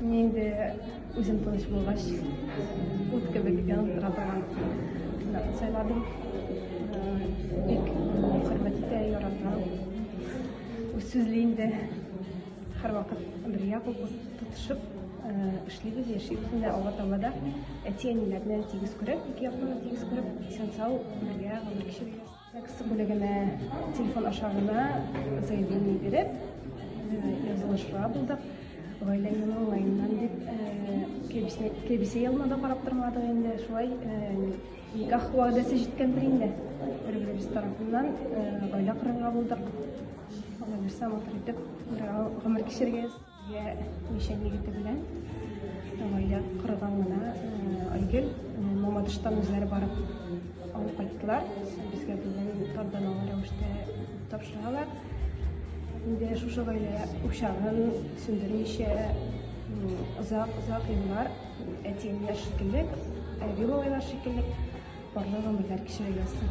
Нинди үзем тыныч булгач, ут кебек янып тора торган кызларны сайладым. Бик хөрмәт итә, ярата. Үз сүзле инде. Һәрвакыт бергә кул тотышып эшлибез, яшибез инде Алла Тәгаләдә. Әти-әниләрне тигез күреп, ике якны тигез күреп, исән-сау бергә гомер кичерәбез. Текст бүлегенә телефон аша гына заявление биреп, язылышырга булдык. Гаилә елы уңаеннан дип, кебесе, кебесе елына да карап тормадык инде. Шулай никах вәгъдәсе җиткәндер инде. Бер-беребез тарафыннан гаилә корырга булдык. Алла бирсә, матур итеп гомер кичерегез. Йә, мишән егете белән гаилә корган гына Айгөл Мамадыштан үзләре барып алып кайттылар. Безгә бүген тантаналы рәвештә тапшыралар. Инде шушы гаилә учагын сүндермичә озак-озак еллар әтиемнәр шикелле, әби бабайлар шикелле парлы гомерләр кичерергә ясый.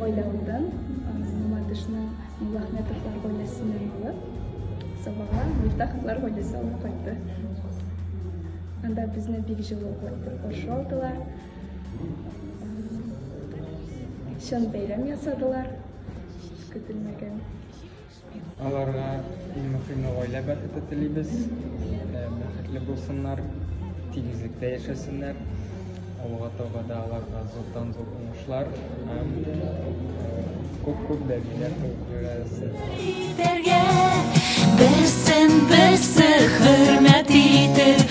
Гаиләмдән Мамадышның Муллахметовлар гаиләсеннән алып, Сабага Мифтаховлар гаиләсе алып кайтты. Анда безне бик җылы каршы алдылар. Чын бәйрәм ясадылар. Көтелмәгән. Аларга иң мөхиме гаилә бәхете телибез. Э, бәхетле булсыннар, тигезлектә яшәсеннәр. Алга таба да аларга зурдан зур уңышлар һәм күп-күп бәбиләр тудырасы. Берсен берсе хөрмәт итеп